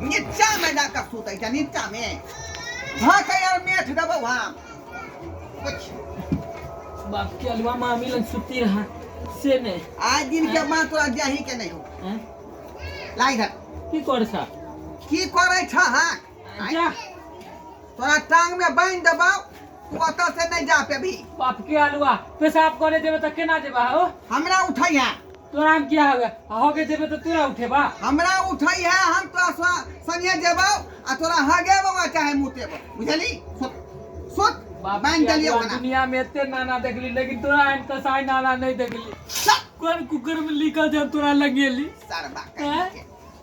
नीचामे लए कऽ सुतै छै नीचामे भाकै आर मेठ देबौ हम बाप के अलवा मामी लग सुती रहा से ने आइ दिन के माँ तोरा जाही के नहि हो लाई धर की कर सा की करै छ हाँ जाह तोरा टांग में बांध देबौ तू ओतऽ से नहीं जा पेबी बाप के आलुआ पेशाब करे जेबे त केना जेबा हो हमरा उठै है तोरा हम किया होगा होगे जेबे त तोरा उठेबा हमरा उठै है हम तोरा सा- संगे जेबौ आ तोरा हगेबौ आ चाहे मुतेबौ बुझली सुत सुत बाप बांध के देलियौ आलुआ, ओकरा दुनिया में एते नाना देखली लेकिन तोरा एहन कसाई नाना नहीं देखली चल कोन कुकर में लिखल जब तोरा लगेली सरबा हैं? कहीं के।